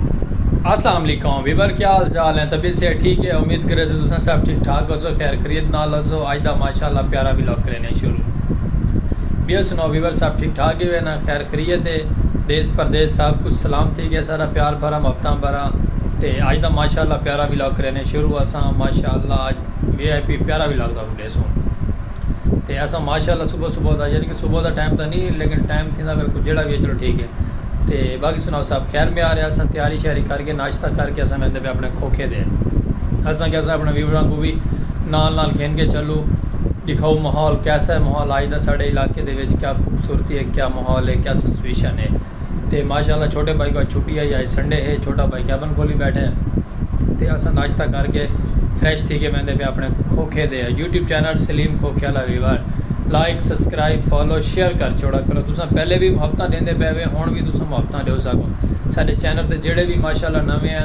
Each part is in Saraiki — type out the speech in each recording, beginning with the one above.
اسلام علیکم ویور کیا حال چال ہیں طبیعت صحت ٹھیک ہے امید کرے تو تساں سب ٹھیک ٹھاک ہوسو خیر خریت نال ہوسو اج دا ماشاءاللہ پیارا ولاگ کرینے شروع بیو سنو ویور سب ٹھیک ٹھاک ہی وینا خیر خریت ہے دیس پردیس سب کچھ سلام تھی گیا سارا پیار بھرا مفتاں بھرا تے اج دا ماشاءاللہ پیارا ولاگ کرینے شروع اساں ماشاءاللہ اج وی آئی پی پیارا ولاگ دا ہیسوں تے اساں ماشاء اللہ صبح صبح دا یعنی کہ صبح دا ٹائم تاں نہیں لیکن ٹائم تھیندا پیا کوئی جیڑا بھی ہے چلو ٹھیک ہے تے باقی سناؤ صاحب خیر میں آ رہے اساں تیاری شیاری کر کے ناشتہ کر کے اساں ویندے پہ اپنے کھوکھے دے اساں کہ اساں اپنے ویوراں کو بھی نال نال گھن کے چلو دکھاؤ ماحول کیسا ہے ماحول آج دا ساڑے علاقے دے وچ کیا خوبصورتی ہے کیا ماحول ہے کیا سچویشن ہے تے ماشاءاللہ چھوٹے بھائی کو اج چھٹی ہئی اج سنڈے ہے چھوٹا بھائی کیبن کول ہی بیٹھے تے اساں ناشتہ کر کے فریش تھی کے ویندے پے اپنے کھوکھے دے یوٹیوب چینل سلیم کھوکھے والا viewer like subscribe follow share کر چھوڑا کرو تساں پہلے بھی محبتاں ڈیندے پے وے ہن بھی تساں محبتاں ڈیو ساکو ساڈے چینل تے جڑے بھی ماشاءاللہ نویں ہیں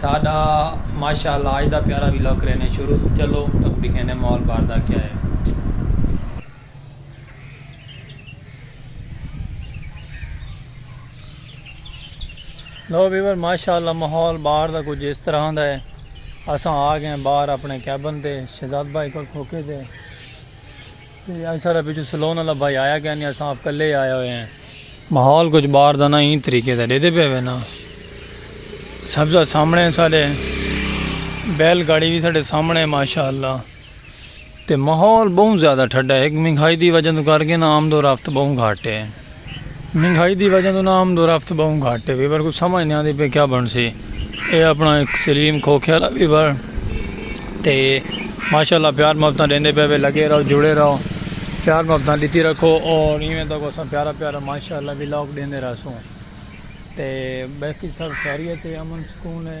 ساڈا ماشاءاللہ آج دا پیارا ویلاگ کرینے شروع چلو تک دکھینے ماحول باہر دا کیا ہے۔ لو ویور ماشاءاللہ ماحول باہر دا کچھ اس طرح دا ہے اساں آ گئے باہر اپنے کیبن تے شہزاد بھائی کول کھوکے تے۔ تے اج ساڈا پچھوں سلون آلا بھائی آیا کیا نی اساں آپ کلے ہی آئے ہوئے ہیں۔ ماحول کچھ باہر دا نہ ایں طریقے دا ڈیدے پئے وینا۔ سبزہ سامنے ساڈے۔ بیل گاڑی وی ساڈے سامنے ماشاءاللہ۔ تے ماحول بہوں زیادہ ٹھڈا ہے۔ ہک مہنگائی دی وجہ توں کر کے نا آمد و رفت بہوں گھٹ ہے۔ مہنگائی دی وجہ توں نہ آمد و رفت بہوں گھٹ ہے ویور کوں سمجھ نہ آندی پئی کیا بنسی اے اپنا ہک سلیم کھوکھے آلا ویور تے ماشاءاللہ پیار محبتاں ڈیندے پئے وے لگے رہو جڑے رہو پیار محبتاں ڈتی رکھو اور ایویں تک اساں پیارا پیارا ماشاءاللہ ولاگ ڈیندے رہسوں تے باقی سب خیریت ہے امن سکون ہے۔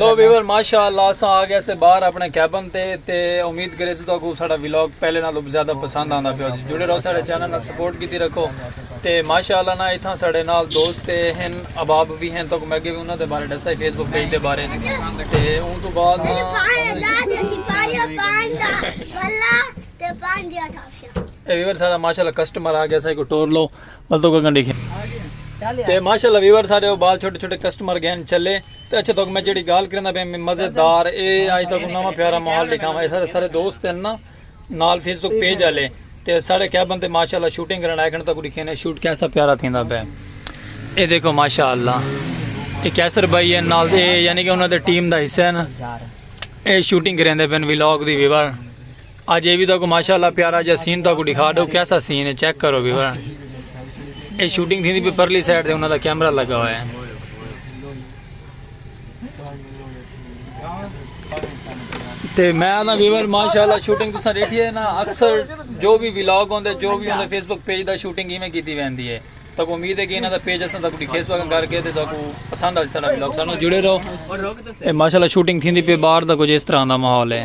لو ویور ماشاء اللہ اساں آ گیا سے باہر اپنے کیبن تے تے امید کرے سے تو ساڈا ولاگ پہلے نال زیادہ پسند آندا پیا جی جڑے رہو ساڈے چینل نال سپورٹ کیتی رکھو تے ماشاء اللہ نا اتھاں ساڈے نال دوست تے ہن اباب بھی ہن تو میں اگے بھی انہاں دے بارے دسا فیس بک پیج دے بارے تے اون تو بعد اے ویور سارا ماشاء اللہ کسٹمر آ گیا سا کو ٹور لو بل تو گگن ڈیکھے تے ماشاءاللہ ویور سارے او بال چھوٹے چھوٹے کسٹمر گین چلے تے اچھا تو میں جڑی گال کرندا پیا میں مزیدار اے اج تک نواں پیارا ماحول دکھاواں سارے سارے دوست ہیں نا نال فیس بک پیج والے تے سارے کیا بندے ماشاءاللہ شوٹنگ کرن آئے کھن تک دکھے نے شوٹ کیسا پیارا تھیندا پیا اے دیکھو ماشاءاللہ اے کیسر بھائی ہیں نال اے یعنی کہ انہاں دے ٹیم دا حصہ ہے نا اے شوٹنگ کریندے پن ویلاگ دی ویور اج اے وی تہاکوں ماشاء اللہ پیارا جا سین تہاکوں ڈکھا ڈو کیسا سین ہے چیک کرو بھی ورن اے شوٹنگ تھیندی پی پرلی سائیڈ تے انہاں دا کیمرہ لگا ہوا ہے تے میں آنا ویور ماشاءاللہ شوٹنگ تساں ڈیٹھی ہے نا اکثر جو بھی ولاگ ہوندے جو بھی ہوندے فیس بک پیج دا شوٹنگ ایویں کیتی ویندی ہے تاکو امید ہے کہ انہاں دا پیج اساں تاکو ڈکھے سو کر کے تے تاکو پسند آ سارا ولاگ سانو جڑے رہو اے ماشاءاللہ شوٹنگ تھیندی پی باہر دا کچھ اس طرح دا ماحول ہے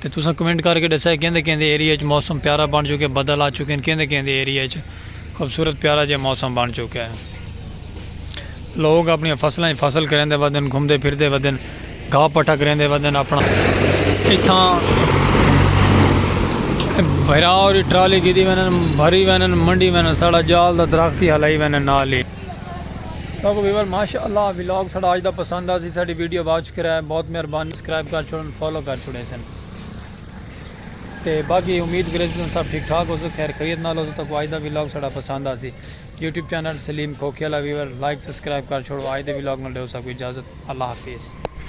تے تساں کمنٹ کر کے ڈسیا کیندے کیندے ایریے اچ موسم پیارا بن چکے بدل آ چکین کیندے کیندے ایریے اچ خوبصورت پیارا جیہا موسم بن چکے لوگ اپنی فصلاں اچ فصل کریندے ودن گھمدے پھردے ودن گھا پٹھا کریندے ودن اپنا اتھاں بھرا اوری ٹرالی گھدی وینن بھری وینن منڈی وینن ساڑا جال دا درخت ہی ہلائی وینن نال ہی۔ لوگو ویور ماشاء اللہ ولاگ ساڑا آج دا پسند آسی ساڑی ویڈیو واچ کرے بہت مہربانی سکرائب کر چھوڑن فالو کر چھوڑے سن تے باقی امید کرے سن سب ٹھیک ٹھاک ہو سو خیر خیریت نال ہو سو تک آج دا ولاگ ساڑا پسند آسی یوٹیوب چینل سلیم کھوکھے والا ویور لائک سبسکرائب کر چھوڑو آج دے ولاگ نال ڈیو سا کوئی اجازت اللہ حافظ